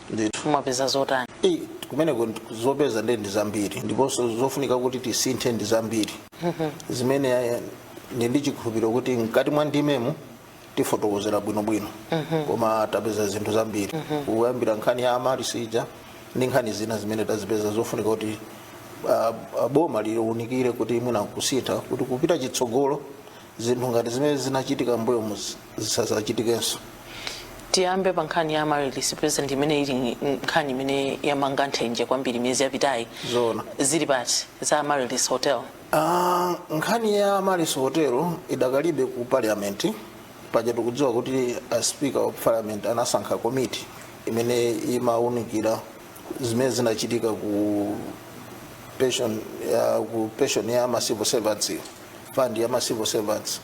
ndithu mwapeza zotani Eh, kumeneko ndi- zopeza nde ndi zambiri ndiponso zofunika kuti tisinthe ndi zambiri zimene eh, ndi ndi chikhulupiriro kuti mkati mwa ndimemu tifotokozera bwinobwino koma tapeza zinthu zambiri kuyambira nkhani ya amaryllis ija ndi nkhani zina zimene tazipeza zofunika kuti ah, ah, boma liunikire kuti mwina kusintha kuti kupita chitsogolo zinthu ngati zimene zinachitika mbuyomuzi zisazachitikenso tiyambe pa nkhani ya amaryllis president imene ili nkhani imene yamanga nthenje kwambiri miyezi yapitayi Zoona. zili pati za amaryllis hotel Ah, nkhani ya amaryllis hotel idakalibe ku parliament paja tikudziwa kuti a speaker of parliament anasankha komiti imene imaunikira zimene zinachitika ku pension ya, ku pension ya ma civil servants fund ya ma civil servants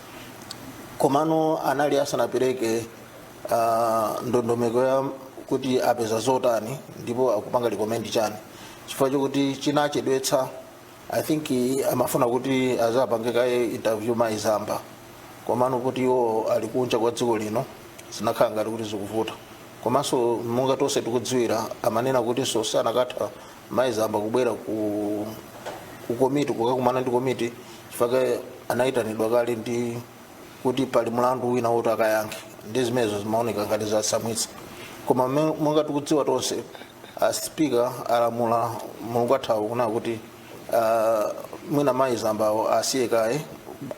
komano anali asanapereke uh, ndondomeko ya kuti apeza zotani ndipo akupanga recommend chani chifukwa chokuti chinachedwetsa i think amafuna kuti azapange kaye interview mayi zamba komano kuti iwo ali kunja kwa dziko lino zinakhala ngati kuti zikuvuta komanso monga tonse tikudziwira amanena kutinso sanakatha mayi zamba kubwera ku ku komiti kukakumana ndi komiti chifukwa anayitanidwa kale ndi kuti pali mlandu wina woti akayankhe ndi zimenezo zimaoneka ngati zatsamwitsa koma me- monga tikudziwa tonse a speaker alamula mulungu wathawu kunena kuti ah, mwina mayi zambawo asiye kaye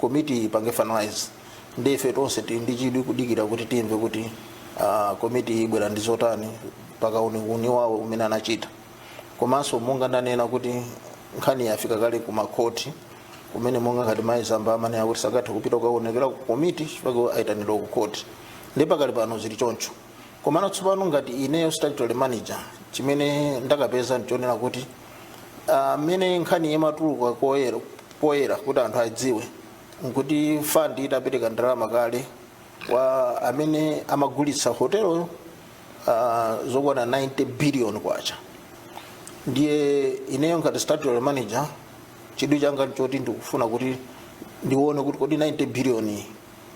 komiti ipange finalize ndi ife tonse tili ndi chidwi kudikira kuti timve kuti ah, komiti ibwera ndi zotani pa kauniuni wawo umene anachita komanso monga ndanena kuti nkhani yafika kale ku makhoti kumene monga ngati mayi zamba amanena kuti sakatha kupita kukaonekera ku komiti chifukwa ayitanidwa ku khoti ndi pakali pano zili choncho komano tsopano ngati ineyo statutory manager chimene ndakapeza ndichonena kuti mmene nkhani imatuluka poyera kuti anthu adziwe nkuti fund itapereka ndalama kale kwa amene amagulitsa hoteloyo uh, zokwana 90 billion kwacha ndiye ineyo ngati statutory manager chidwi changa ndi choti ndikufuna kuti ndione kuti kodi 90 billion iyi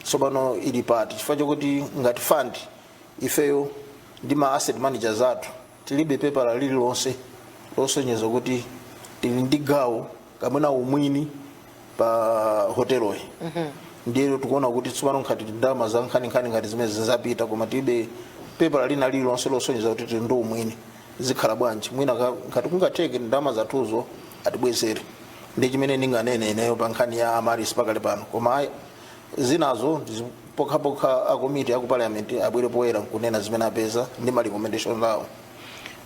tsopano ili pati chifukwa chokuti ngati fund ifeyo ndi ma asset managers athu tilibe pepala lililonse losonyeza kuti tili ndi gawo kapena umwini pa hoteloyi ndiyeno tikuona kuti tsopano ngati ndalama za nkhaninkhani ngati zimenezi zapita koma tilibe pepala lina lililonse losonyeza kuti tili ndi umwini zikhala bwanji mwina ka- ngati kungatheke ndalama zathuzo atibwezere ndi chimene ndinganene ineyo pa nkhani ya amaryllis pakali pano koma ayi zinazo ndizi- pokhapokha akomiti aku parliament abwere poyera nkunena zimene apeza ndi ma recommendation awo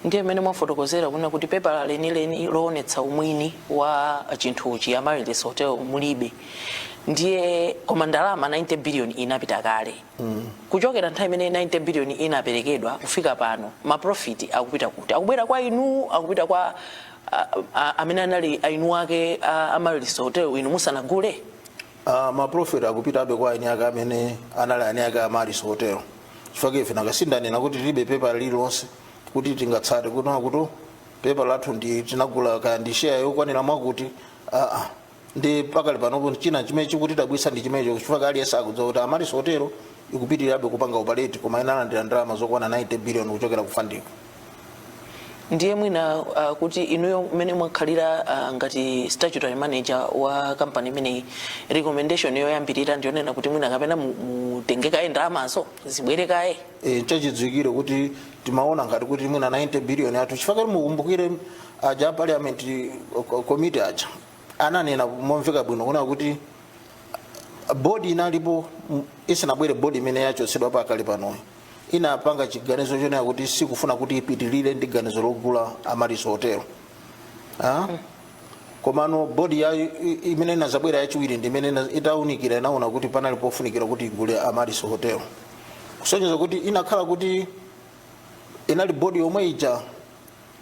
ndiye mmene mwafotokozera kunena kuti pepala lenileni loonetsa umwini wa chinthuchi cha Amaryllis hotel mulibe ndiye koma ndalama 90 billion inapita kale kuchokera nthawi imene 90 billion inaperekedwa kufika pano maprofiti akupita kuti akubwera kwa inu akupita kwa a- a- amene anali eni ake a Amaryllis hotel inu musanagule Uh, maprofiti akupitabe kwa eni ake amene anali eni ake Amaryllis hotel chifukwa ife nanga si ndanena kuti tilibe pepa lililonse kuti tingaonetse kunena kuti pepa lathu ndi tinagula kaya ndi sheya yokwanira mwakuti aa ndi pakali panopo china chimene chikutidabwitsa ndi chimenecho chifukwa aliyense akudziwa kuti Amaryllis hotel ikupitirirabe kupanga opareti koma inalandira ndalama zokwana 90 biliyoni kuchokera ku fund-ko ndiye mwina uh, kuti inuyo mmene mwakhalira uh, ngati statutory manager wa kampani imeneyi recommendation yoyambirira ndiyonena kuti mwina kapena mu- mutenge kaye ndalamazo zibwere kaye e, chachidziwikire kuti timaona ngati kuti mwina 90 billion yathuyo chifukwa mukumbukire aja a parliament committee aja ananena momveka bwino kunena kuti bodi inalipo m- isanabwere bodi imene yachotsedwa pakali panoyi inapanga chiganizo chonena kuti sikufuna kuti ipitilire ndi ganizo logula Amaryllis hotel Ah? komano bodi ya i- i- imene inazabwera yachiwiri ndi imene ina- itaunikira inaona kuti panali pofunikira kuti igule Amaryllis hotel kusonyeza kuti ikanakhala kuti inali bodi yomwe ija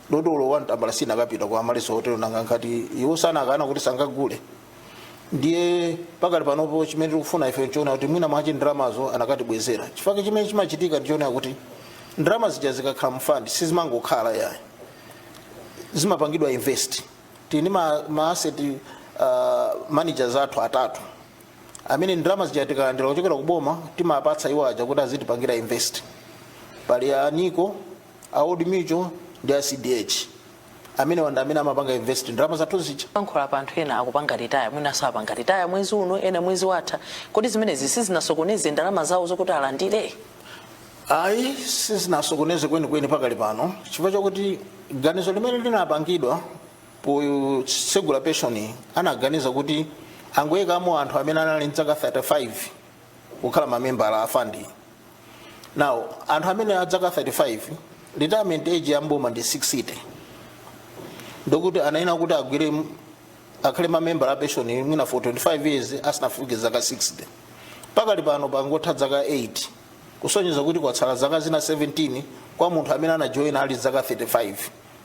ndalamayi olo wan tambala sinakapita kwa Amaryllis hotel nanga ngati iwo si anakana kuti sangagule ndiye pakali panopo chimene tikufuna ife nchonena kuti mwina mwache ndalamazo anakatibwezera chifukwa chimene chimachitika ndichonena kuti ndalama zija zikakhala mu fund sizimangokhala yayi zimapangidwa invest tili ndi ma, ma asset uh, managers athu atatu amene ndalama zija tikalandira kuchokera ku boma timapatsa iwo aja kuti azitipangira invest pali a nico a old mutual ndi a cdh amene wanda amene amapanga invest ndalama zathu zija tikulankhula pano anthu ena akupanga ritaya mwina apanga ritaya mwezi uno ena mwezi watha kodi zimenezi sizinasokoneze ndalama zawo zokuti alandire ayi sizinasokoneze kwenikweni pakali pano chifukwa chakuti ganizo limene linapangidwa potsegula penshoni anaganiza kuti angoyikamo anthu amene anali mdzaka 35 kukhala mamembala a fandi now anthu amene adzaka 35 retirement age ya mboma ndi 60 ndiye kuti anayenera kuti agwire m- akhale mamembala a pension mwina for 25 years asanafike zaka 60 pakali pano pangotha zaka 8 kusonyeza kuti kwatsala zaka zina 17 kwa munthu amene anajoyina ali zaka 35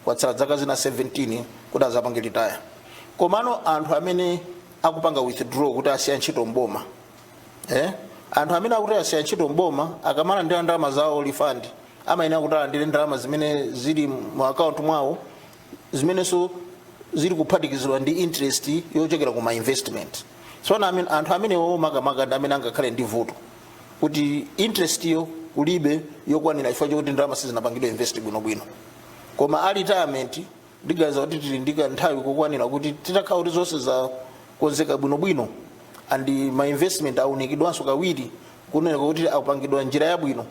kwatsala zaka zina 17 kuti azapange ritaya komano anthu amene akupanga withdraw kuti asiya ntchito mboma eh? anthu amene akuti asiya ntchito mboma akamalandira ndalama zawo refund amayenera kuti alandire ndalama zimene zili mu akaunti mwawo zimenenso zili kuphatikizidwa ndi interest yochokera ku ma investment tsono amene- anthu amenewo makamaka ndi amene angakhale ndi vuto kuti interest yo kulibe yokwanira chifukwa chokuti ndalama sizinapangidwe invest bwinobwino koma a retirement ndiganiza kuti tili ndi kanthawi kokwanira kuti titakhala kuti zonse zakonzeka bwinobwino and ma investment aunikidwanso kawiri kunena kuti apangidwa njira yabwino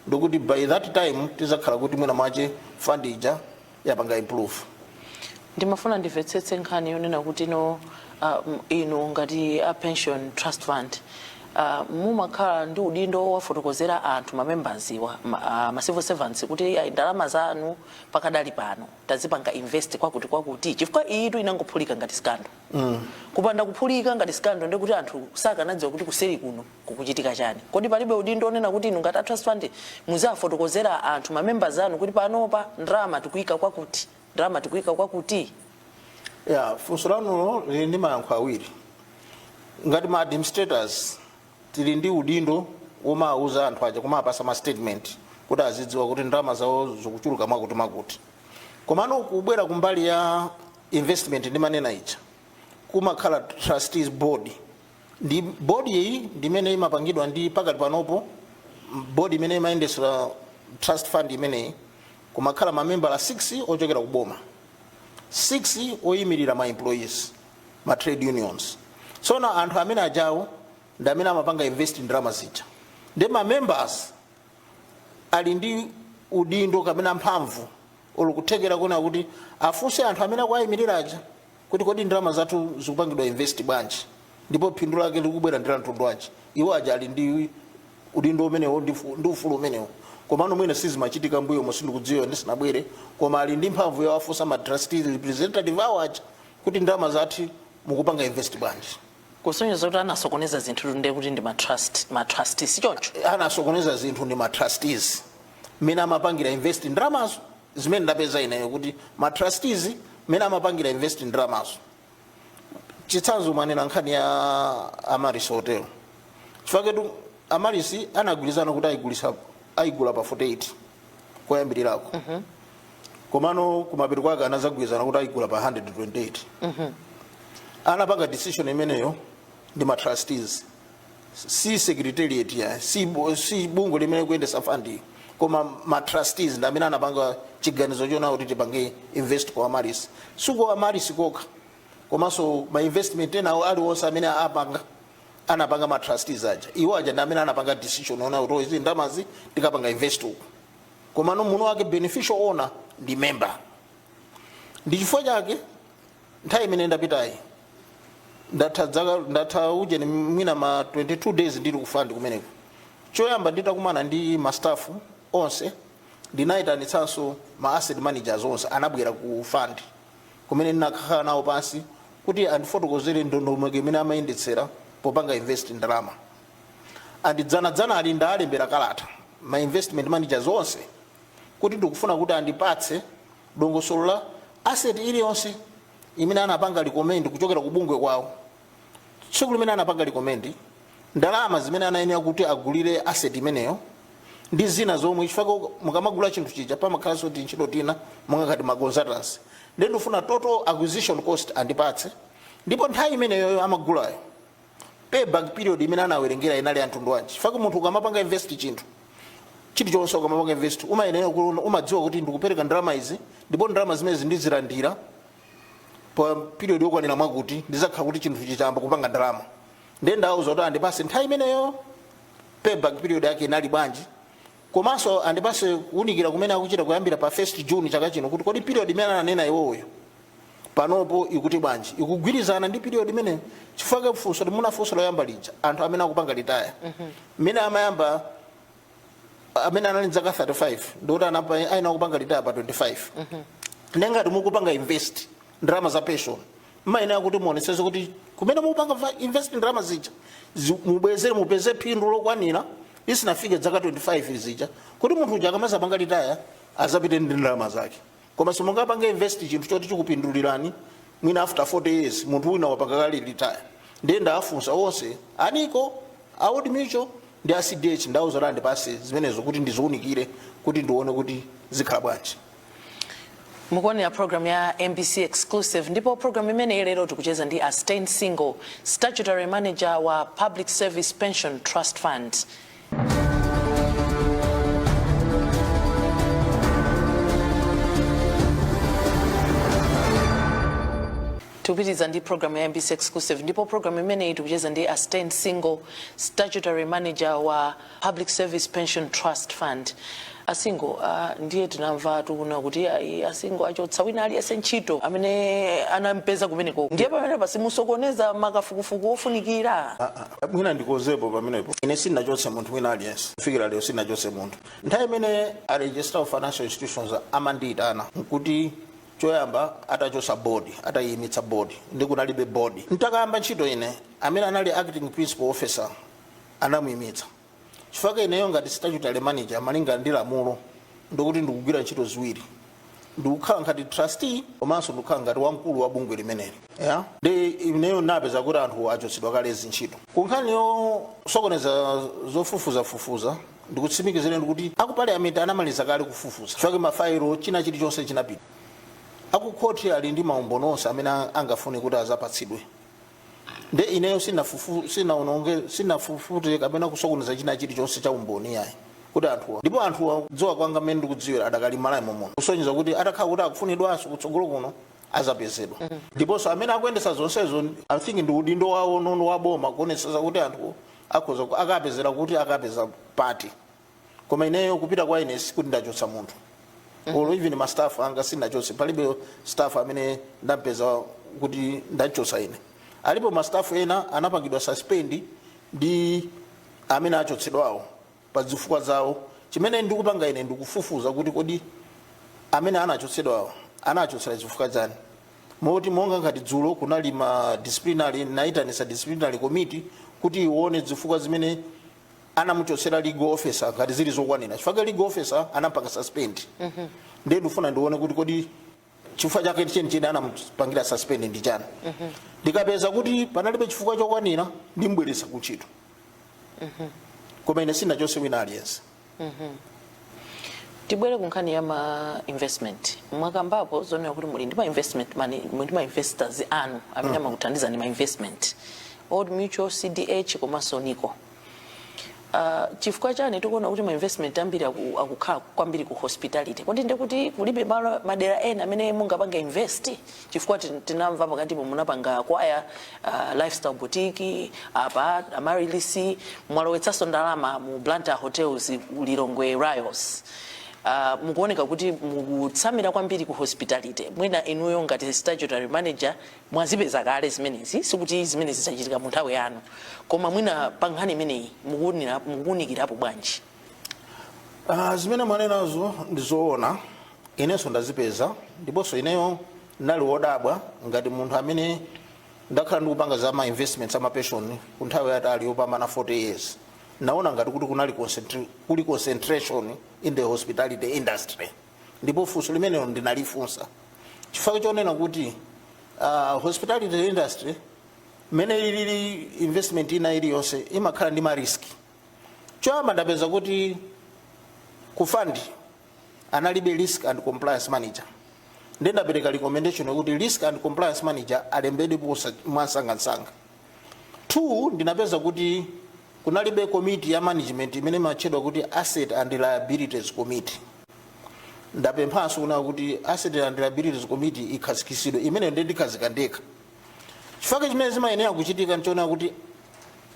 ndikuti by that time tizakhala kuti mwina mwache fund ija yapanga improve ndimafuna ndimvetsetse nkhani yonena kuti no uh, m- inu ngati a pension trust fund uh, mumakhala ndi udindo wowafotokozera anthu mamembaziwa ma, uh, ma civil servants kuti ayi ndalama zanu pakadali pano tazipanga invest kwakuti kwakuti chifukwa iyitu inangophulika ngati scandal kupanda kuphulika ngati scandal ndekuti anthu sakanadziwa kuti kuseri kuno kukuchitika chani kodi palibe udindo onena kuti inu ngati a trust fund muziwafotokozera anthu mamembers anu kuti panopa ndalama tikuyika kwakuti ndalama tikuyika kwakuti ya funso lanulo lili ndi mayankho awiri ngati ma administrators tili ndi udindo womawuza anthu aja kumawapatsa ma statement kuti azidziwa kuti ndalama zawo zikuchuluka mwakuti mwakuti komano kubwera kumbali ya investment ndimanena ija kumakhala trustees board ndi board iyi ndimene imapangidwa ndi pakati panopo board imene imayendetsera trust fund imeneyi kumakhala mamembala 6 ochokera ku boma 6 oyimirira ma employees ma trade unions tsono anthu amene ajawo ndi amene amapanga invest ndalama zija ndi ma members ali ndi udindo kapena mphamvu olo kuthekera kunena kuti afunse anthu amene akuwayimirira aja kuti kodi ndalama zathu zikupangidwa invest bwanji ndipo phindu lake likubwera ndi la mtundu wanji iwo aja ali ndi udindo umenewo ndi fu- ndi ufulu umenewo komano mwina sizimachitika mbuyomo sindikudziwa ndisinabwere koma ali ndi mphamvu yowafunsa ma trustee representative awo aja kuti ndalama zathu mukupanga invest bwanji kusonyeza kuti anasokoneza zinthu ndiye kuti ndi matrust matrust si choncho anasokoneza zinthu ndi matrustees mmene amapangira invest ndalamazo zimene ndapeza ineyo kuti matrustees mmene amapangira invest ndalamazo chitsanzo mwanena nkhani ya amaryllis hotel chifukwa ketu amaryllis anagwirizana kuti ayigulisa ayigula pa 48 koyambirirako komano kumapeto kwake anazagwirizana kuti ayigula pa 128 anapanga decision imeneyo ndi ma trustees si secretariat ya si, bu- si bungwe limene likuyendetsa fund koma ma trustees ndi amene anapanga chiganizo chonena kuti tipange invest ku amaryllis si ku amaryllis kokha komanso ma investment enawo aliwonse amene apanga anapanga ma trustees aja iwo aja ndi amene anapanga decision ona kuti izi ndalamazi tikapanga invest uku komano mwini wake beneficial owner ndi member ndi chifukwa chake nthawi imene ndapitayi ndatha dzaka ndatha ujeni mwina ma 22 days ndili ku fund kumeneko choyamba nditakumana ndi ma staff onse ndinayitanitsanso ma asset managers onse anabwera ku fund kumene ndinakhala nawo pansi kuti andifotokozere ndondomeko imene amayendetsera popanga invest ndalama and dzanadzanali ndaalembera kalata ma investment managers onse kuti ndikufuna kuti andipatse dongosolo la asset iliyonse imene anapanga recommend kuchokera ku bungwe kwawo tsiku limene anapanga recommend ndalama zimene anayenera kuti agulire asset imeneyo ndi zina zomwe chifukwa mukamagula chinthu chija pamakhalanso tintchito tina monga ngati maconsultancy ndi ndifuna total acquisition cost andipatse ndipo nthawi imeneyoyo amagulayo payback period imene anawerengera inali ya mtundu wanji chifukwa munthu ukamapanga invest chinthu chilichonse ukamapanga invest umayenera kuona umadziwa kuti ndikupereka ndalama izi ndipo ndalama zimenezi ndizilandira pa period yokwanira mwakuti ndizakhala kuti chinthu chichayamba kupanga ndalama ndiye ndawauza kuti andipase nthawi imeneyo payback period yake inali bwanji komanso andipase kuunikira kumene akuchita kuyambira pa 1 June chaka chino kuti kodi period imene ananena iwowo panopo ikuti bwanji ikugwirizana ndi period imene chifukwa funso limene munafunsa loyamba lija anthu amene akupanga retire mmene amayamba amene anali zaka 35 ndikuti anapa- ayenera kupanga retire pa 25 nde ngati mukupanga invest ndalama za pension mmayenera kuti muonesese kuti kumene mukupanga va- invest ndalama zija zi- mubwezere mupeze phindu lokwanira isanafike zaka 25 zija kuti munthu uja akamazapanga retire azapite ndi ndalama zake koma simungapange invest chinthu choti chikupindulirani mwina after 40 years munthu wina wapanga kale retire ndiye ndaafunsa onse a NICO a Old Mutual ndi a CDH ndawauza andipatse zimenezo kuti ndiziunikire kuti ndione kuti zikhala bwanji mukuonera program ya MBC Exclusive ndipo program imeneyi lero tikucheza ndi a Stain Singo statutory manager wa Public Service Pension Trust Fund tikupitiriza ndi program ya MBC Exclusive ndipo program imeneyi tikucheza ndi a Stain Singo statutory manager wa Public Service Pension Trust Fund a singo a ndiye tinamvatu kuna kuti ayi a singo achotsa wina aliyense ntchito amene anampeza kumeneko ndiye pamenepa simusokoneza makafukufuku ofunikira mwina ndikozepo pamenepo ine sinachotse munthu wina aliyense kufikira lero sinachotse munthu nthawi imene a registrar of financial institutions amandiyitana nkuti choyamba atachotsa bodi atayiyimitsa bodi ndi kunalibe bodi ntakayamba ntchito ine amene anali acting principal officer anamuyimitsa chifukwa ineyo ngati statutory manager malinga ndi lamulo ndikuti ndikugwira ntchito ziwiri ndikukhala ngati trustee komanso ndikukhala ngati wamkulu wa bungwe limeneli ya nde ineyo napeza kuti anthu achotsedwa kale zintchito ku nkhani yosokoneza zofufuzafufuza ndikutsimikizireni kuti aku parliament anamaliza kale kufufuza chifukwa mafailo china chilichonse chinapita akukhoti ali ndi maumboni onse amene angafune kuti azapatsidwe nde ineyo sinafufu- sinaononge sinafufute kapena kusokoneza china chilichonse cha umboni yayi kuti anthuwa ndipo anthuwa kudziwa kwanga mmene ndikudziwira adakali Malawi momuno kusonyeza kuti atakhala kuti akufunidwanso kutsogolo kuno azapezedwa ndiponso amene akuyendesa zonsezo i think ndi udindo wawo nono wa boma kuonetsetsa kuti anthuwo akhoza akapezeka kuti akapeza pati koma ineyo kubwera kwa ine sikuti ndachotsa munthu olo even ma staff anga sinachotse palibe staff amene ndampeza kuti ndachotsa ine alipo ma staff ena anapangidwa suspend ndi amene achotsedwawo pa zifukwa zawo chimene ndikupanga ine ndikufufuza kuti kodi amene anachotsedwawo anachotsera zifukwa zani moti monga ngati dzulo kunali ma disciplinary naitanisa disciplinary committee kuti ione zifukwa zimene anamuchotsera legal officer ngati zili zokwanira chifukwa chake legal officer anampanga suspend ndiye ndifuna ndione kuti kodi chifukwa chake chenicheni anamupangira suspend ndi chani ndikapeza kuti panalibe chifukwa chokwanira ndimbweretsa ku ntchito koma ine sinachotse wina aliyense tibwere ku nkhani ya ma investment mwakambapo zonena kuti muli ndi ma investment mani muli ndi ma investors anu amene amakuthandizani ma investment old mutual cdh komanso nico Uh, chifukwa chani tikuona kuti ma investment ambiri aku- akukhala kwambiri ku hospitality kodi ndi kuti kulibe malo madera ena amene mungapange invest chifukwa tin- tinamva pakatipo munapanga acquire uh, lifestyle boutique apa Amaryllis mwalowetsanso ndalama mu blantyre hotels ku lilongwe Ryalls Uh, mukuoneka kuti mukutsamira kwambiri ku hospitality mwina inuyo ngati statutory manager mwazipeza kale zimenezi sikuti zimenezi zachitika mu nthawi yanu koma mwina pa nkhani imeneyi mukuwunira- mukuwunikirapo bwanji Ah, zimene mwanenazo ndi zoona inenso ndazipeza ndiponso ineyo ndinali wodabwa ngati munthu amene ndakhala ndikupanga za ma investments amapeshoni ku nthawi yaitali yopambana 40 years ndinaona ngati kuti kunali concentri- kuli concentration in the hospitality industry ndipo funso limenelo ndinalifunsa chifukwa chonena kuti uh, hospitality industry mmene ili investment ina iliyonse imakhala ndi mariski choyamba ndapeza kuti ku fund analibe risk and compliance manager ndiye ndapereka recommendation yokuti risk and compliance manager alembedwe mwansangansanga 2 ndinapeza kuti kunalibe komiti ya management imene imatchedwa kuti asset and liabilities committee ndapemphanso kunena kuti asset and liabilities committee ikhazikitsidwe imene ndi ndikhazika ndekha chifukwa chimene zimayenera kuchitika nchonena kuti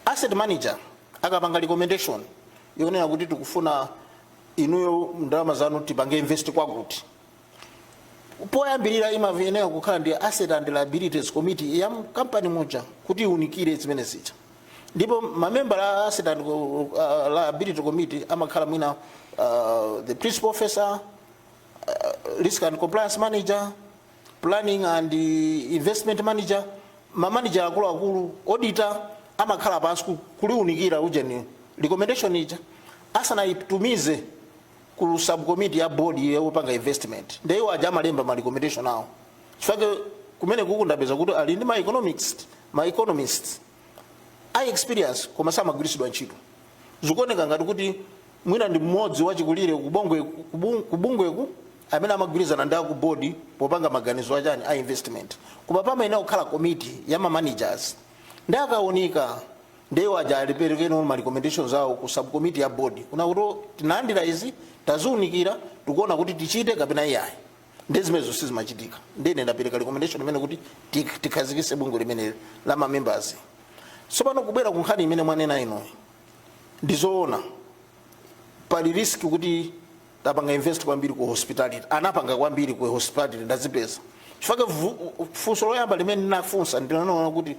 asset manager akapanga recommendation yonena kuti tikufuna inuyo ndalama zanu tipange invest kwakuti poyambirira imayenera kukhala ndi asset and liabilities committee ya kampani muja kuti iunikire zimenezija ndipo mamembala a asset and uh, liability committee amakhala mwina uh, the principal officer uh, risk and compliance manager planning and uh, investment manager mamanager akuluakulu auditor amakhala pansi ku- kuliunikira ujeni recommendation ija asanayitumize ku subcommittee ya board yopanga investment nde iwo aja amalemba ma recommendation awo chifukwa kumene kuku ndapeza kuti ali ndi ma economics ma economists a experience koma samagwiritsidwa ntchito zikuoneka ngati kuti mwina ndi mmodzi wachikulire kubongwe kubung- kubungweku amene amagwirizana ndi aku board popanga maganizo achani a investment koma pamayenera kukhala committee ya ma managers nde akaunika nde iwo aja aziperekano ma recommendations awo ku subcommittee ya board kunena kuti tinalandira izi taziunikira tikuona kuti tichite kapena iyayi nde zimenezo sizimachitika nde ine ndapereka recommendation imene kuti tik- tikhazikise bungwe limeneli la ma members tsopano kubwera ku nkhani imene mwanena inuyi ndizoona pali risk kuti tapanga invest kwambiri ku hospitality anapanga kwambiri ku hospitality ndazipeza chifukwa vu- funso loyamba limene ndinafunsa ndinanena kuti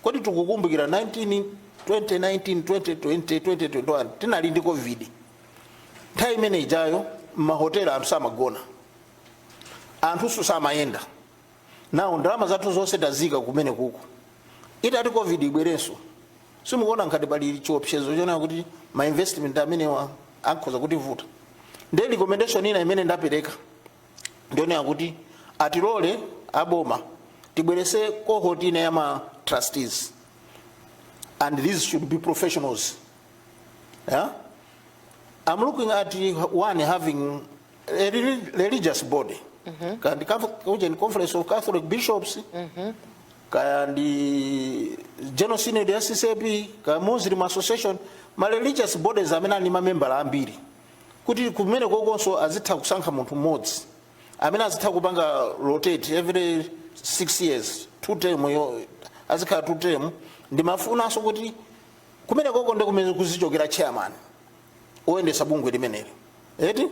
kodi tikukumbukira 19 2019 2020 2021 tinali ndi covid nthawi imene ijayo mmahotela anthu samagona anthu samayenda nawo ndalama zathu zonse tazika kumeneko itati covid ibwerenso simukuona ngati pali chiopsezo chonena kuti ma investment amenewa akhoza kutivuta ndi recommendation ina imene ndapereka ndi yonena kuti atilole aboma tibwerese cohort ina ya ma trustees and these should be professionals yeah? i'm looking at one having a reli- religious body kaya ndi Catholic- uje ndi conference of catholic bishops kaya ndi general synod ya ccap kaya muslim association ma religious bodies amene ali ndi mamembala ambiri kuti kumenekokonso azitha kusankha munthu mmodzi amene azitha kupanga rotate every six years two term yo azikhala two term ndimafunanso kuti kumenekoko ndi kumene kuzichokera chairman oyendetsa bungwe limeneli eti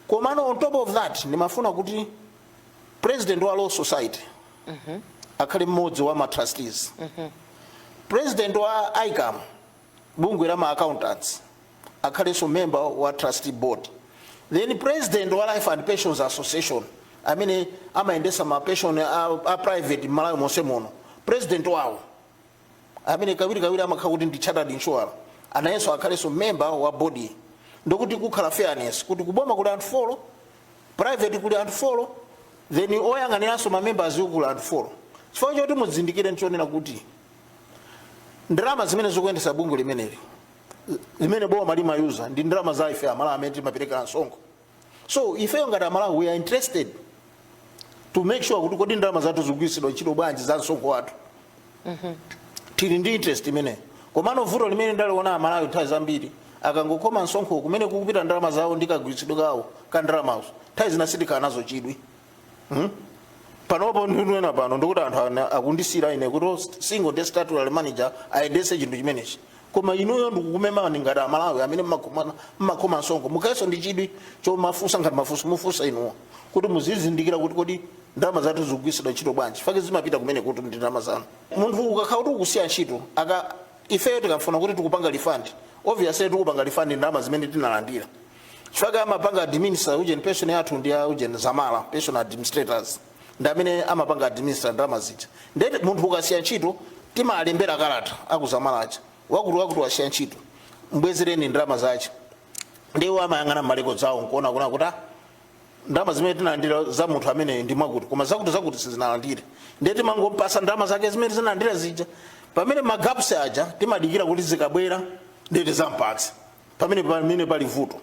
komano on top of that ndimafuna kuti president wa law society akhale mmodzi wa matrustees president wa icam bungwe la ma accountants akhalenso member wa trustee board then president wa life and pensions association amene amayendesa ma pension a, a private m'malawi monse muno president wawo amene kawirikawiri amakhala kuti ndi chartered insurer anayenso akhalenso member wa board ndi kuti kukhale fairness kuti kuboma kuli anthu folo private kuli anthu folo then oyang'aniranso mamembers kuli anthu folo chifukwa choti mudzindikire ndi chonena kuti ndalama zimene zikuyendesa bungwe limeneli zimene boma limayuza ndi ndalama za ife amalawi amene timapereka msonkho so ifeyo ngati amalawi we are interested to make sure kuti kodi ndalama zathu zikugwiritsidwa ntchito bwanji za msonkho wathu tili ndi interest imeneyo komano vuto limene ndaliona amalawi nthawi zambiri akangokhoma msonkho kumene kukupita ndalama zawo ndi kagwiritsidwe kawo ka ndalamazo nthawi zina sitikhala nazo chidwi Hmm? panopo ndikunena pano ndikuti anthu ana- akundisiyira ine kuti oh, since ndi statutory manager ayendese chinthu chimenechi koma inuyo ndikumemani ngati amalawi amene mmakhoma- mmakhoma msonkho mukhalenso ndi chidwi chomafunsa ngati mafunso mufunsa inuwo kuti muzizindikira kuti kodi ndalama zathu zikugwiritsidwa ntchito bwanji chifukwa zimapita kumeneko ndi ndalama zanu munthu ukakhala kuti ukusiya ntchito aka ifeyo tikafuna kuti tikupanga refund obviously tikupanga refund ndalama zimene tinalandira chifukwa amapanga administer ujeni pension yathu ndi ya ujeni zamala pension administrators ndi amene amapanga administer ndalama zija ndiye munthu ukasiya ntchito timalembera kalata a ku zamala aja wakuti wakuti wasiya ntchito mbwezereni ndalama zake ndiye iwo amayang'ana ma record zawo nkuona kunena kuti "Ah, ndalama zimene tinalandira za munthu amene ndi mwakuti koma zakuti zakuti sizinalandire ndiye timangompasa ndalama zake zimene zinalandira zija pamene ma gaps aja timadikira kuti zikabwera ndiye tidzampatse pamene pamene pali vuto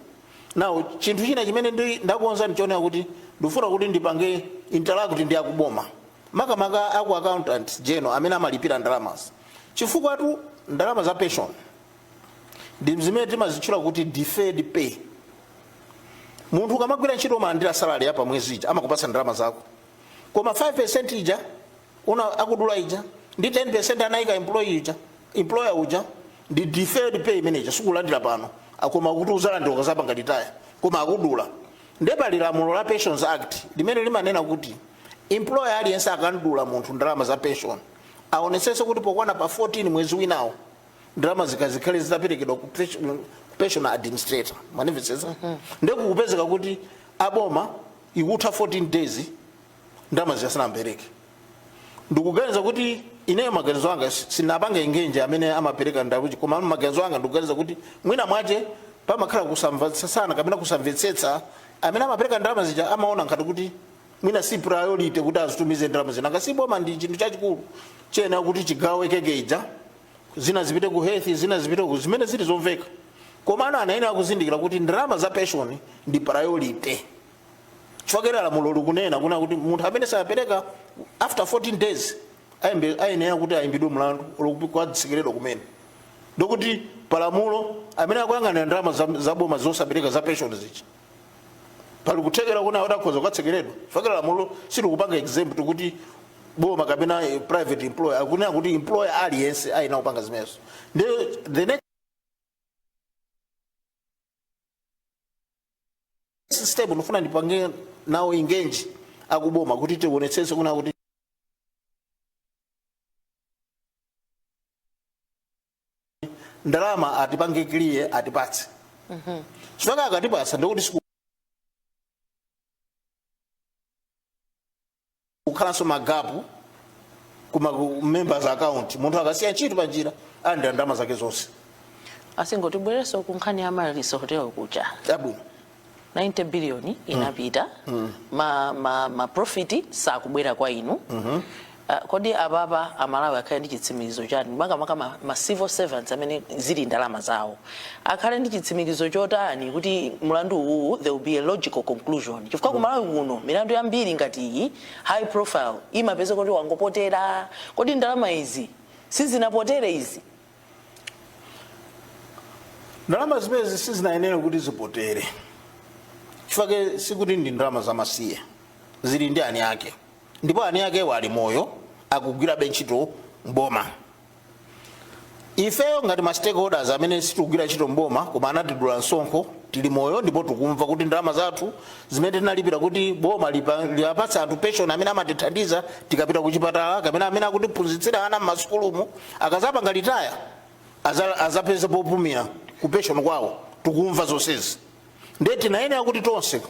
nawo chinthu china chimene ndi- ndakonza ndichonena kuti ndifuna kuti ndipange interact ndi akuboma makamaka aku accountant general amene amalipira ndalamazi chifukwa tu ndalama za pension ndi zimene timazitchula kuti deferred pay munthu ukamagwira ntchito umalandira salary ya pamwezi ija amakupatsa ndalama zako koma 5 ija uja anakudula ija ndi 10% anayika employee ija employer uja ndi deferred pay money yoti sukulandira pano koma kuti uzalandira ukazapanga retire koma akudula nde pali lamulo la pensions act limene limanena kuti employer aliyense akamdula munthu ndalama za pension aonesese kuti pokwana pa 14 mwezi winawo ndalama zija zikhale zitaperekedwa ku pension- ku pension administrator mwandimvetsetsa nde kukupezeka kuti aboma ikutha 14 days ndalama zija sanapereke ndikuganiza kuti ineyo maganizo anga si- sindinapange engage amene amapereka ndalamazi koma maganizo anga ndikuganiza kuti mwina mwake pamakhala kusamvetsetsana kapena kusamvetsetsa amene amapereka ndalama zija amaona ngati kuti mwina si priority kuti azitumize ndalama zija chifukwa boma ndi chinthu chachikulu chiyenera kuti chigawe keke ija zina zipite ku health zina zipite ku zimene zili zomveka komano anayenera kuzindikira kuti ndalama za pension ndi priority chifukwa lamulo likunena kunena kuti munthu amene sapereka after 14 days ayembe- ayenera kuti ayimbidwe mlandu olo kutsekeredwa kumene ndekuti palamulo amene akuyang'anira ndalama za- za boma zosapereka za pension zizi pali kuthekera kunena kuti akhoza kukatsekeredwa chifukwa lamulo silikupanga exempt kuti boma kapena eh, private employer akunena kuti employer aliyense ayenera kupanga zimenezo Ndi- the next step ndifuna ndipange nawo engage akuboma kuti tionetsese kunena kuti ndalama atipange clear atipatse chifukwa akatipatsa ndikuti siku kukhalanso magapu kuma ku members' account munthu akasiya ntchito pa njira alandira ndalama zake zonse tingobwereranso ku nkhani ya amaryllis hotel kuti chabwino 90 billion inapita ma, ma, ma profit sakubwera kwa inu Ah, kodi apapa amalawi akhale ndi chitsimikizo chani makamaka ma, ma civil servants amene zili ndalama zawo akhale ndi chitsimikizo chotani kuti mlandu uwuwu there will be a logical conclusion chifukwa ku malawi kuno milandu yambiri ngati iyi high profile imapeza kuti wangopitira kodi ndalama izi sizinapitire izi ndalama zimezi sizinayenere kuti zipitire chifukwa sikuti ndi ndalama zamasiye zili ndi eni ake ndipo eni akewo ali moyo akugwirabe ntchito mboma ifeyo ngati ma stakeholders amene sitikugwira ntchito mboma koma anatidula msonkho tili moyo ndipo tikumva kuti ndalama zathu zimene tinalipira kuti boma lipa- liwapatse anthu pension amene amatithandiza tikapita kuchipatala kapena amene akutiphunzitsira ana m'masukulumu akazapanga retire aza- azapeze popumira ku pension kwawo tikumva zonsezi ndiye tinayenera kuti tonse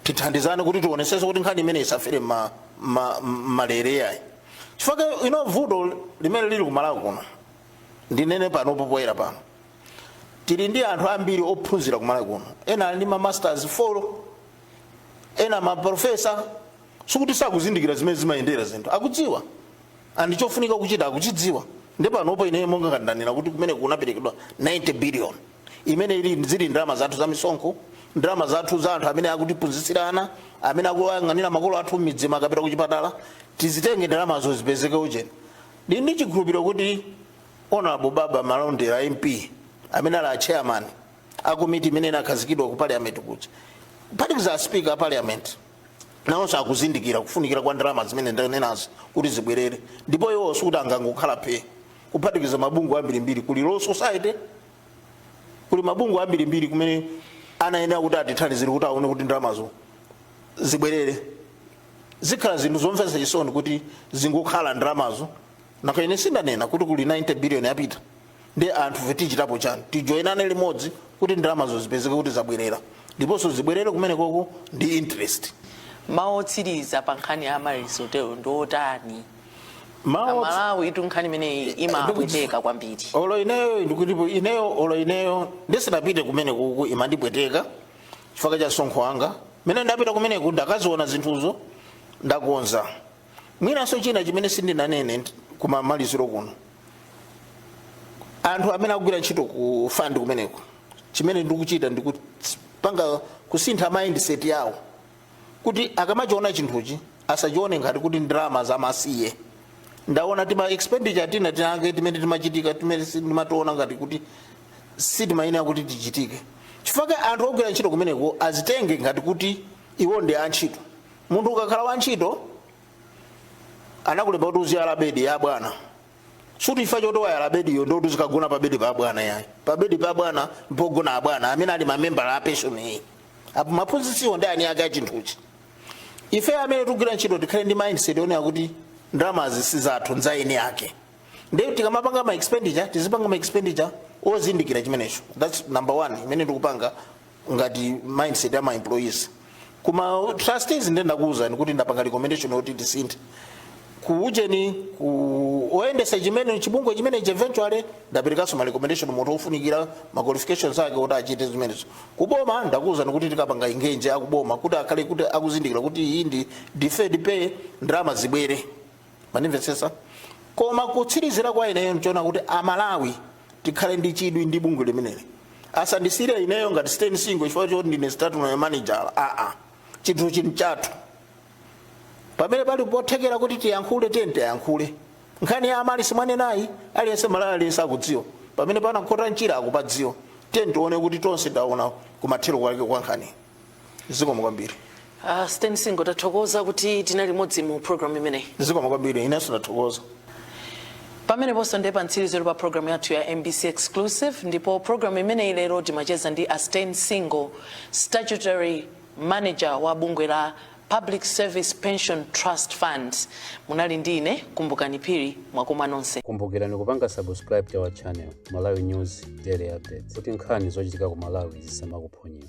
tithandizane kuti tionesese kuti nkhani imeneyi isafere ma, ma, malere ayi chifukwa ino vuto limene lili kumalawi kuno ndinene pano popoyera pano tili ndi anthu ambiri ophunzira kumalawi kuno ena ali ndi ma masters 4 ena ma professor sikuti sakuzindikira zimene zimayendera zinthu akudziwa and chofunika kuchita akuchidziwa ndiye panopo ine monga ndanena kuti kumene kunaperekedwa 90 billion imene ili zili ndalama zathu za misonkho ndalama zathu za anthu amene akutiphunzitsira ana amene akuyang'anira makolo athu m'midzi akapita kuchipatala tizitenge ndalamazo zipezeke ujeni ndi ndi chikhulupiriro kuti honorable baba malondera mp amene ali a chairman a komiti imene inakhazikidwa ku parliament kuja kuphatikiza a speaker a parliament nawonso akuzindikira kufunikira kwa ndalama zimene ndanenazo kuti zibwerere ndipo iwo sikuti angangokhala phee kuphatikiza mabungwe ambirimbiri kuli law society kuli mabungwe ambirimbiri kumene anayenera kuti atithandizire kuti aone kuti ndalamazo zibwerere zikhala zinthu zomvetsa chisoni kuti zingokhala ndalamazo nanga ine si ndanena kuti kuli 90 billion yapita ndi anthu fe tichitapo chani tijoinane limodzi kuti ndalamazo zipezeke kuti zabwerera ndiponso zibwerere kumene koko ndi interest mawu otsiriza pa nkhani ya Amaryllis Hotel ndi otani mawu otsu- amalawi itu nkhani imeneyi imapweteka kwambiri olo ineyo ndikuti ineyo olo ineyo ndisinapite kumene kuku imandipweteka chifukwa cha msonkho wanga mene ndapita kumeneku ndakaziona zinthuzo ndakonza mwinanso china chimene sindinanene ndi- kumamaliziro kuno anthu amene akugwira ntchito ku fund kumeneko chimene ndikuchita ndi kupanga kusintha mindset yawo kuti akamachiona chinthuchi asachione ngati kuti ndalama zamasiye ndaona tima expenditure tina tinatake timene timachitika timene si- timationa ngati kuti sitimayenera kuti tichitike chifukwa anthu ogwira ntchito kumeneko azitenge ngati kuti iwo ndi antchito munthu ukakhala wantchito anakulemba kuti uziyala bedi ya bwana sikuti chifukwa choti wayala bediyo ndiye kuti uzikagona pa bedi pa bwana yayi pa bedi pa bwana mpogona abwana amene ali mamembala a pension iyi apo aphunzitsiwo ndi eni ake a chinthuchi ife amene tikugwira ntchito tikhale ndi mindset yonena kuti ndalamazi si zathu nza eni ake ndiye tikamapanga ma expenditure tizipanga ma expenditure ozindikira chimenecho that's number one imene ndikupanga ngati mindset ya ma employees kuma trustees ndiye ndakuuzani kuti ndapanga recommendation yoti tisinthe kuujeni oyendetsa chimene chibungwe chimene eventually ndaperekanso ma recommendation munthu ofunikira ma qualifications ake kuti achite zimenezo kuboma ndakuuzani kuti tikapanga engage akuboma kuti akhale kuti akuzindikira kuti iyi ndi deferred pay ndalama zibwere mwandimvetsetsa koma kutsirizira kwa ineyo nchonena kuti amalawi tikhale ndi chidwi ndi bungwe limeneli asandisiyire ineyo ngati Stain Singo chifukwa choti ndine statutory manager aa chinthu chili chathu pamene pali pothekera kuti tiyankhule tiyeni tiyankhule nkhani ya amali simwanenayi aliyense mmalawi aliyense akudziwa pamene panakhota nchira akupadziwa tiyeni tione kuti tonse taona kumathero kwake kwa nkhaniyi zikomo kwambiri Uh, Stain Singo tathokoza kuti tinali limodzi mu program imeneyi. zikomo kwambiri inenso ndathokoza Pameneponso ndiye pa mtsirizo pa program yathu ya MBC Exclusive ndipo program imeneyi lero timacheza ndi a Stain Singo, statutory manager wa bungwe la Public Service Pension Trust Fund. Munali ndi ine Kumbukani Phiri mwakoma nonse. kumbukirani kupanga subscribe to our channel malawi news daily updates kuti nkhani zochitika ku malawi zisamakuphonyeni